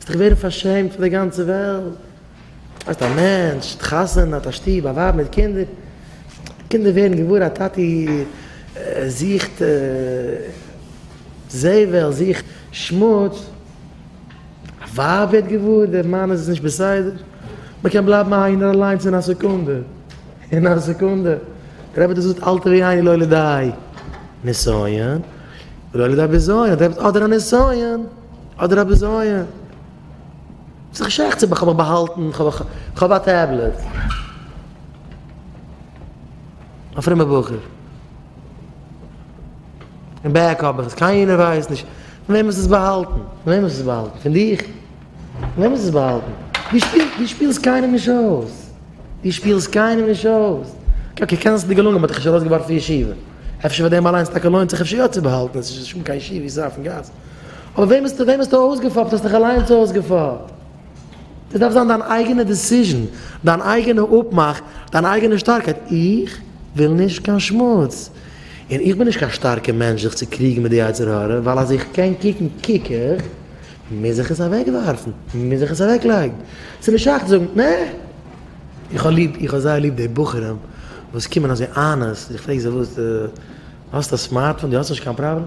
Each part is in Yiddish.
וועסט דיך ווערן פארשעמט פון די גאנצע וועלט, האסט א מענטש, האט חתונה, האט א שטוב, א ווייב מיט קינדער, קינדער ווערן געוואר אז טאטי זוכט זבל, זוכט שמוץ, א ווייב ווערט געוואר דער מאן איז נישט בסדר, מען קען בלייבן איינער אליינס אין א סעקונדע, אין א סעקונדע, דער רבי האט דאס געזאגט אלטע ווי איינער לא לידי נסיון ולא לידי בזיון, אדער א נסיון. אדער א בזיון. ס'איז דאך שייך צו איך האב מיך באהאלטן, כ'האב א טעבלעט. א פרומער בחור. אין בעק האב איך עס, קיינער ווייסט נישט. פון וועם האסט עס באהאלטן? פון וועם האסט עס באהאלטן? פון דיך? פון וועם האסט עס באהאלטן? דו שפילסט קיינעם נישט אויס. דו שפילסט קיינעם נישט אויס. אקעי, קען זיין ס'איז דיר געלונגען, מ'האט דיך נישט ארויסגעווארפן פון ישיבה. אפשר פאר דעם אליינס טאקע לוינט זיך אפשר יא צו באהאלטן, עס איז נישט קיין ישיבה, עס איז אויפן גאס. אבער וועם האסטו וועם האסטו אויסגעפאפט? האסט דיך אליינס אויסגעפאפט. דאס דארף זיין דיין אייגענע דעסיזשען, דיין אייגענע אפמאך, דיין אייגענע שטארקייט, איך וויל נישט קיין שמוץ, און איך בין נישט קיין שטארקע מענטש זיך צו קריגן מיט די יצר הרע, ווייל אז איך קען קוקן קוק איך, מוז איך עס אוועקווארפן, מוז איך עס אוועקלייגן. ס'איז נישט שייך צו זאגן, נע! איך האב ליב, איך האב זייער ליב די בחורים וואס קומען אזוי אנעסט, איך פרעג זיי, וואס, דו האסט א סמארטפאון, דו האסט נישט קיין פראבלעם?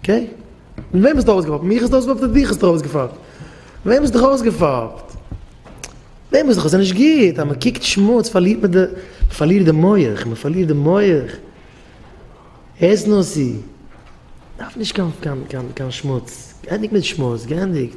אקעי? און וועם האסטו ארויסגעפאפט? מיך האסטו ארויסגעפאפט אדער דיך האסטו ארויסגעפאפט? וועם האסטו דיך ארויסגעפאפט? וועם האסטו דיך ס'איז נישט גוט אז מ'קוקט שמוץ פארלירט מען די מ'פארלירט די מח מ'פארלירט די מח הערסט נאר ס'דארף נישט קיין קיין קיין שמוץ גענדיגט מיט שמוץ גענדיגט